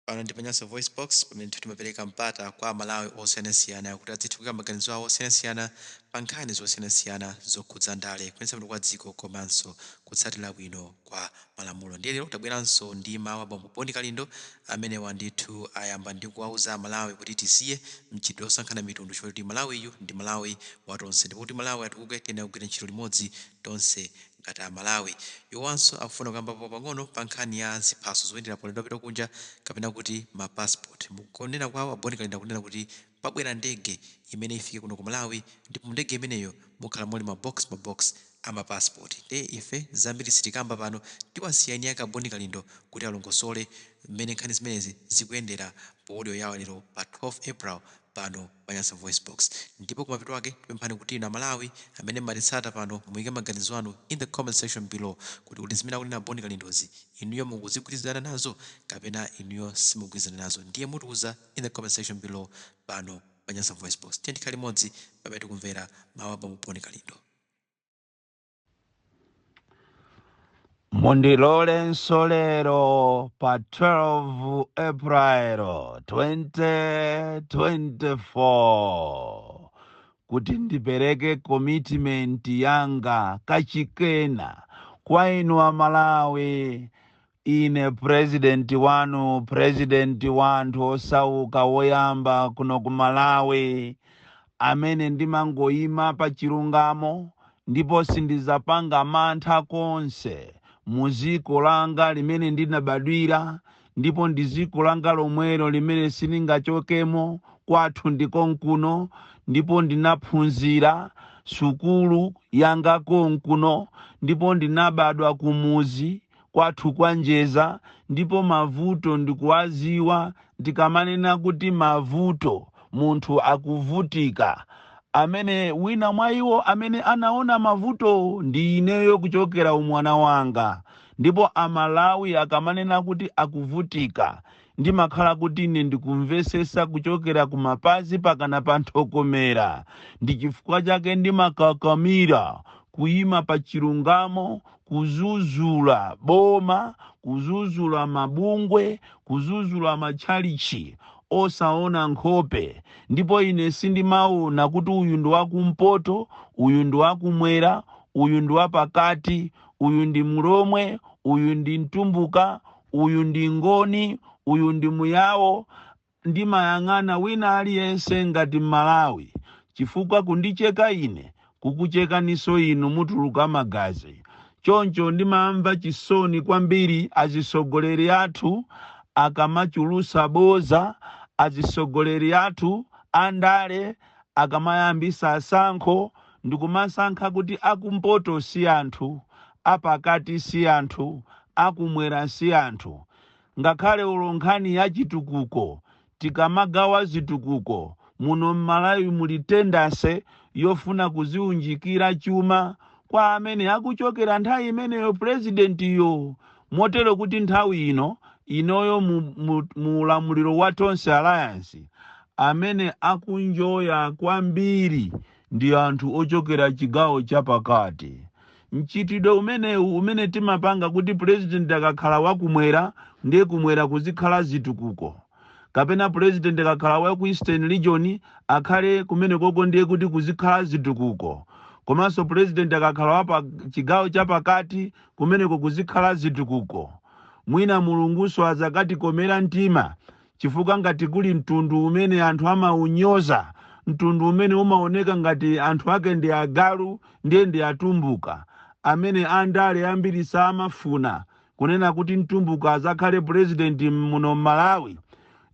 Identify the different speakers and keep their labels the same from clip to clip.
Speaker 1: Pano ndi pa Nyasa VoiceBox, pamene ndithu timapereka mpata kwa Amalawi osiyanasiyana kuti adzithe kuika maganizo awo osiyanasiyana pa nkhani zosiyanasiyana zokhudza ndale, kuyendetsa bwino kwa dziko komanso kutsatira bwino kwa malamulo. Ndiye lero tabweranso ndi mawu a bambo Boni Kalindo, amene ndithu ayamba ndi kuwauza Amalawi kuti tisiye mchitidwe wosankhana mitundu chifukwa choti Malawiyu ndi Malawi wa tonse ndipo kuti Malawi atukuke tiyenera kugwira ntchito limodzi tonse ngati a Malawi. Iwowanso akufuna kukambapo pang'ono pa nkhani ya ziphaso zoyendera paulendo wopita kunja kapena kuti ma passport. Mu kunena kwawo a Boni Kalindo akunena kuti pabwera ndege imene ifike kuno ku Malawi ndipo mu ndege imeneyo mukhala muli ma box ma box a ma passport. Ndiye ife zambiri sitikamba pano tiwasiya eni ake a Boni Kalindo kuti alongosole mmene nkhani zimenezi zikuyendera pa audio yawo ya lero pa 12 April pano pa Nyasa VoiceBox. Ndipo kumapeto kwake tipemphani kuti inu aMalawi amene mumatitsata pano muyike maganizo anu in the comment section below kuti kodi zimene akunena Boni Kalindozi inuyo mukuzigwirizana nazo kapena inuyo simugwirizana nazo ndiye mutiuza in the comment section below pano pa Nyasa VoiceBox. Tiyeni tikhale limodzi pamene tikumvera mawu a Bambo Boni Kalindo.
Speaker 2: Mundilolenso lero pa 12 April 2024 kuti ndipereke commitment yanga kachikenanso kwa inu Amalawi Ine president wanu president wa anthu osauka woyamba kuno ku Malawi amene ndimangoima pa chilungamo ndipo sindizapanga mantha konse muziko langa limene ndinabadwira ndipo ndiziko langa lomwelo limene sindingachokemo kwathu ndikonkuno ndipo ndinaphunzira sukulu yanga konkuno ndipo ndinabadwa kumuzi kwathu kwa Njeza ndipo mavuto ndikuwaziwa ndikamanena kuti mavuto munthu akuvutika amene wina mwa iwo amene anaona mavuto ndi ineyo kuchokera umwana wanga ndipo amalawi akamanena kuti akuvutika ndimakhala kuti ine ndikumvesesa kuchokera kumapazi pakana pa nthokomera ndi chifukwa chake ndimakakamira kuyima pa chilungamo kuzuzula boma, kuzuzula mabungwe, kuzuzula matchalitchi, osawona nkhope. Ndipo ine sindimawona kuti uyu ndi wa Kumpoto, uyu ndi wa Kumwera, uyu ndi wa Pakati, uyu ndi Mlomwe, uyu ndi Mtumbuka, uyu ndi Ngoni, uyu ndi Muyao. ndimayang'ana wina aliyense ngati mmalawi chifukwa kundicheka ine kukuchekaniso inu mutuluka magazi choncho ndimamva chisoni kwambiri azisogoleri athu akamachulusa boza azisogoleri athu andale akamayambisa tsankho ndikumasankha kuti akumpoto si anthu apakati si anthu akumwera si anthu ngakhale olo nkhani ya chitukuko tikamagawa zitukuko muno mmalawi muli tendency yofuna kuziunjikira chuma kwamene akuchokera nthawi imeneyo pulezidentiyo motero kuti nthawi ino inoyo mu, mu, mu ulamuliro wa tonse alliance amene akuenjoya kwambiri ndi anthu ochokera chigawo chapakati. Mchitidwe umenewu umene timapanga kuti pulezidenti akakhala wa kumwera ndiye kumwera kuzikhala zitukuko kapena pulezidenti akakhala wa ku Eastern Region akhale kumenekoko ndiye kuti kuzikhala zitukuko komanso pulezidenti akakhala wa pa chigawo chapakati kumeneko kuzikhala zitukuko. Mwina Mulungunso azakatikomera mtima Chifukwa ngati kuli mtundu umene anthu amaunyoza, mtundu umene umaoneka ngati anthu ake ndi agalu, ndiye ndi Atumbuka, amene andale ambiri samafuna kunena kuti mtumbuka azakhale president muno m'Malawi,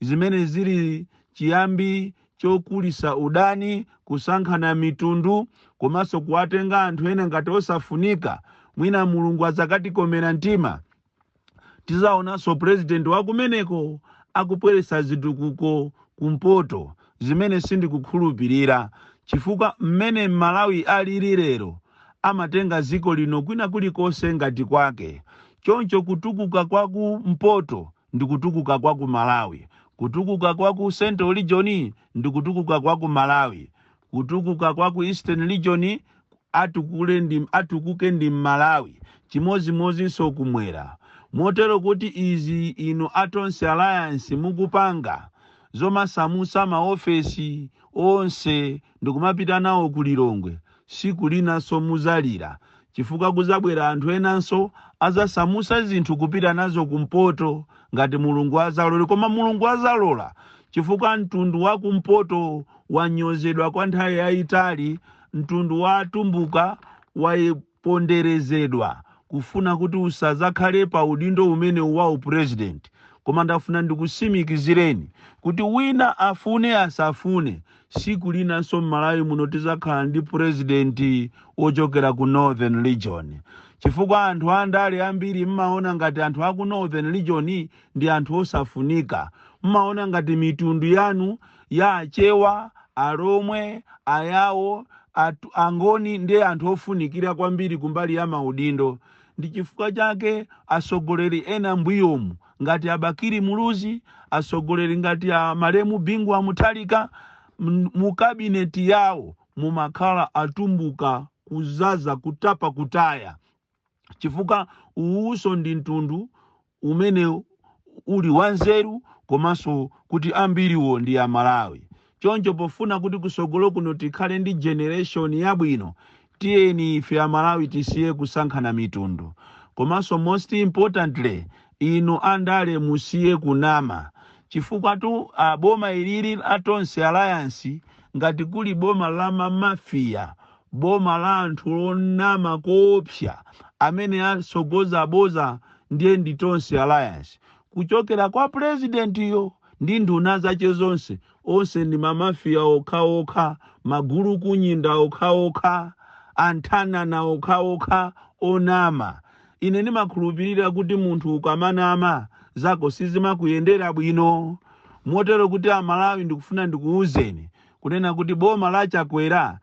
Speaker 2: zimene zili chiyambi chokulisa udani, kusankhana mitundu, komanso kuwatenga anthu ena ngati osafunika, mwina Mulungu azakatikomera mtima. Tizaonanso president wakumeneko akubweretsa zitukuko kumpoto zimene sindikukhulupirira chifukwa mmene mmalawi alili lero amatenga ziko lino kwina kulikonse ngati kwake choncho kutukuka kwa ku mpoto ndikutukuka kwa ku malawi kutukuka kwa ku central region ndikutukuka kwa ku malawi kutukuka kwa ku eastern region atukule ndi, atukuke ndi m'Malawi, chimodzimodzinso kumwera. Motero kuti izi inu a Tonse Alliance mukupanga, zomasamutsa ma ofesi onse ndikumapita nawo ku Lilongwe, siku linanso muzalira chifukwa kuzabwera anthu enanso azasamutsa zinthu kupita nazo kumpoto ngati Mulungu azalola. Koma Mulungu azalola chifukwa mtundu wa kumpoto wanyozedwa kwa nthawi yaitali, Mtundu wa atumbuka waponderezedwa kufuna kuti usazakhale pa udindo umenewu wa u president koma ndafuna ndikusimikizireni kuti wina afune asafune siku linanso mmalawi muno tizakhala ndi president wochokera ku northern region chifukwa anthu andale ambiri mmaona ngati anthu aku northern region ndi anthu osafunika mmaona ngati mitundu yanu ya Achewa, Alomwe, Ayawo, Angoni ndi anthu ofunikira kwambiri kumbali ya maudindo. Ndi chifukwa chake atsogoleri ena mbuyomu ngati a Bakili Muluzi, atsogoleri ngati a malemu Bingu wa Mutharika mu kabineti yawo mumakhala atumbuka kuzaza kutapa kutaya. chifukwa uwuso ndi mtundu umene uli wanzeru komanso kuti ambiriwo ndi amalawi choncho pofuna kuti kusogolo kuno tikhale ndi generation yabwino tiyeni ife amalawi tisiye kusankhana mitundu komanso most importantly inu andale musiye kunama chifukwa tu ah, boma ilili la Tonse Alliance ngati kuli boma la mamafiya Boma la anthu onama koopsa amene atsogoza boza ndiye ndi Tonse Alliance kuchokera kwa president yo ndi nduna zache zonse onse ndi ma mafia okhaokha, magulukunyinda okhaokha, anthanana okhaokha onama. Ine ndimakhulupirira kuti munthu ukamanama zako sizimakuyendera bwino. Motero kuti a Malawi ndikufuna ndikuuzeni kunena kuti boma la Chakwera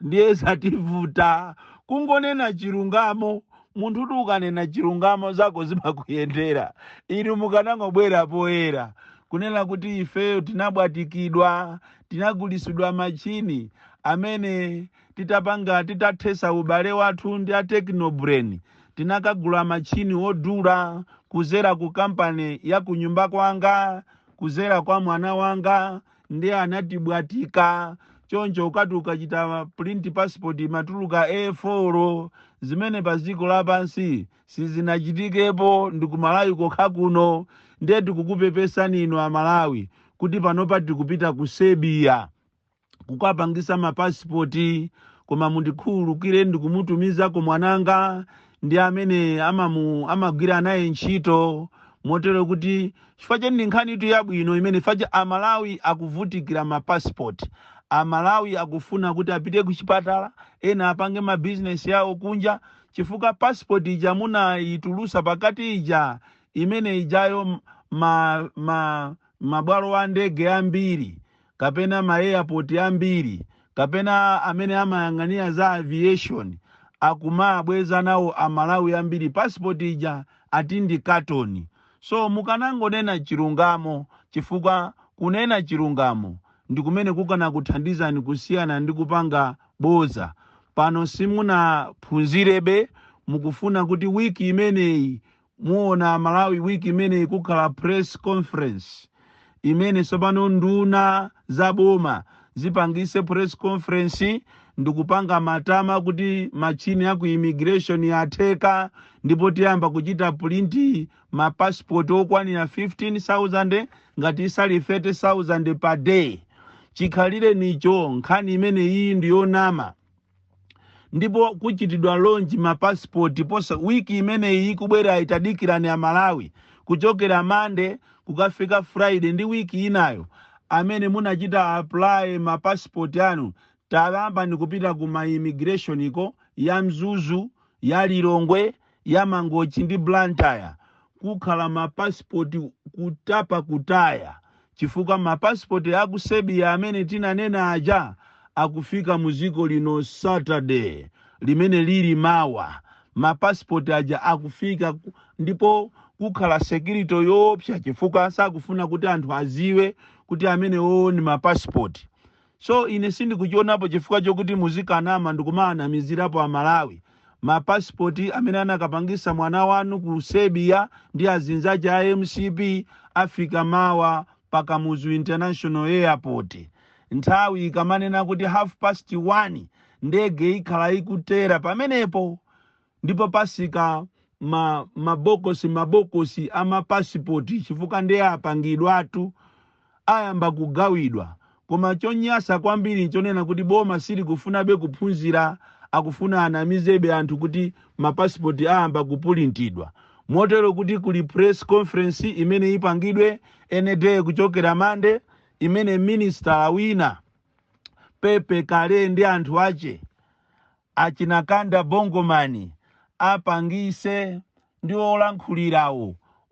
Speaker 2: ndiye zativuta kungonena chilungamo munthu kuti ukanena chilungamo zako zimakuyendera inu mukanangobwera poyera kunena kuti ifeyo tinabwatikidwa tinagulisidwa machini amene titapanga titathesa ubale wathu ndi a technobrain tinakagula machini odula kuzera ku kampani ya kunyumba kwanga kuzera kwa mwana wanga ndiye anatibwatika choncho ukati ukachita print passport imatuluka a4 zimene pa dziko lapansi sizinachitikepo ndi kumalawi kokha kuno ndiye tikukupepesani inu amalawi kuti panopa tikupita ku Serbia kukapangisa mapasipoti koma mundikhululukire ndikumutumizako mwananga ndi amene amagwira naye ntchito motero kuti chifukwa cheni ndi nkhani itu yabwino imene faja amalawi akuvutikira ma passport amalawi akufuna kuti apite ku chipatala ena apange ma business yawo kunja chifukwa passport ija munayitulusa pakati ija imene ijayo mabwalo a ndege ambiri kapena ma airport ambiri kapena amene amayang'anira za aviation akumawabweza nawo a Malawi ambiri passport ija ati ndi carton. So mukanangonena chilungamo chifukwa kunena chilungamo ndi kumene kukanakuthandizani kusiyana ndi kupanga bodza. Pano simunaphunzirebe mukufuna kuti week imeneyi Muona amalawi week imeneyi kukhala press conference imene sopano nduna za boma zipangise press conference ndikupanga matama kuti matchini aku immigration atheka ndipo tiyamba kuchita print ma passport okwanira 15000 ngati sali 30000 per day chikhalirecho nkhani imeneyi ndiyonama ndipo kuchitidwa lonji mapasipoti posa wiki imeneyi ikubwerayi tadikirani amalawi kuchokera mande kukafika friday ndi wiki inayo amene munachita apply mapasipoti anu tayambani kupita ku ma immigration ko ya mzuzu ya lilongwe ya Mangochi ndi Blantyre kukhala ma passport kutapa kutaya chifukwa ma passport a ku Serbia amene tinanena aja akufika mu dziko lino Saturday limene lili mawa ma passport aja akufika ndipo kukhala security yoopsa chifukwa sakufuna kuti anthu aziwe kuti amenewo ndi ma passport So ine sindikuchionapo chifukwa chokuti muzikanama ndikumawanamizirapo a Malawi. Ma passport amene anakapangisa mwana wanu ku Serbia ndi azinzache a mcp afika mawa pa Kamuzu International Airport. Nthawi ikamanena kuti half past one ndege ikhala ikutera pamenepo. Ndipo pasika mabokosi mabokosi a mapasipoti chifukwa ndiye apangidwatu ayamba kugawidwa koma chonyasa kwambiri nchonena kuti boma silikufunabe kuphunzira akufuna anamizebe anthu kuti mapasipoti ayamba kupulintidwa motero kuti kuli press conference imene ipangidwe any day kuchokera mande imene minister wina pepe kale ndi anthu ache Achina Kanda Bongo Man apangise ndi olankhulirawo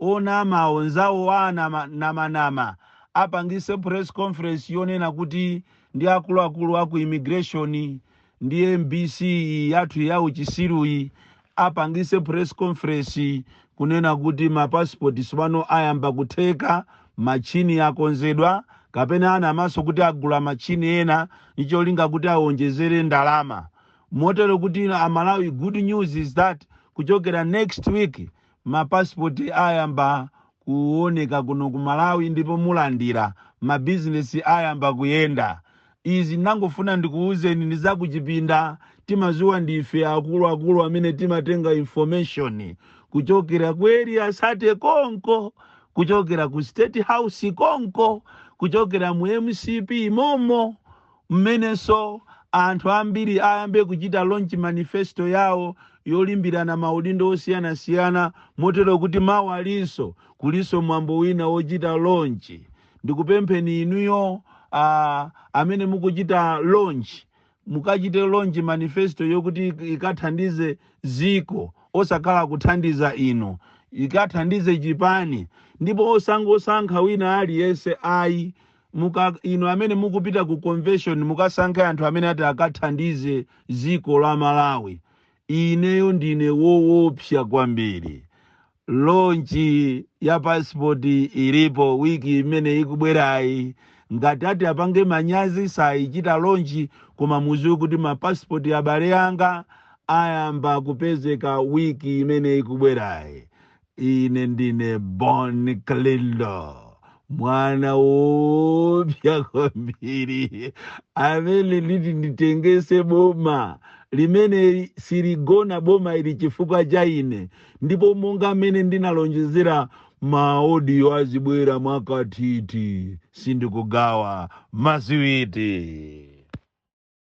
Speaker 2: onamawo nzawo wa anamanama apangise press conference yonena kuti ndi akuluakulu aku immigration ndi mbc yathu ya uchisiruyi apangise press conference kunena kuti ma passport sopano ayamba kutheka, machini akonzedwa kapena anamaso kuti agula machini ena ncholinga kuti awonjezere ndalama. Motero kuti a Malawi good news is that kuchokera next week ma passport ayamba kuoneka kuno ku Malawi ndipo mulandira mabusiness ayamba kuyenda. Izi ndinangofuna ndikuuzeni ndi za kuchipinda, timaziwa ndife akulu akulu amene timatenga information kuchokera ku area 30 konko, kuchokera ku state house konko, kuchokera mu mcp momo, Mmenenso anthu ambiri ayambe kuchita launch manifesto yawo yolimbirana maudindo osiyanasiyana motero kuti mawalinso kulinso mwambo wina wochita launch. Ndikupempheni inuyo amene mukuchita launch mukachite launch manifesto yokuti ikathandize dziko osakhala kuthandiza inu. Ikathandize chipani ndipo osangosankha wina aliyense ayi. inu amene mukupita ku convention mukasankhe anthu amene ati akathandize dziko la malawi ineyo ndine wowopsa kwambiri lonchi ya pasipoti ilipo wiki imene ikubwerayi ngati ati apange manyazi sayichita lonchi koma muziwe kuti mapasipoti abale anga ayamba kupezeka wiki imene ikubwerayi Ine ndine Bon Kalindo, mwana woopsa kwambiri amene nditi nditengese boma limene siligona boma ili chifukwa cha ine, ndipo monga mmene ndinalonjezera maaudio azibwera mwakathithi sindikugawa masiwiti.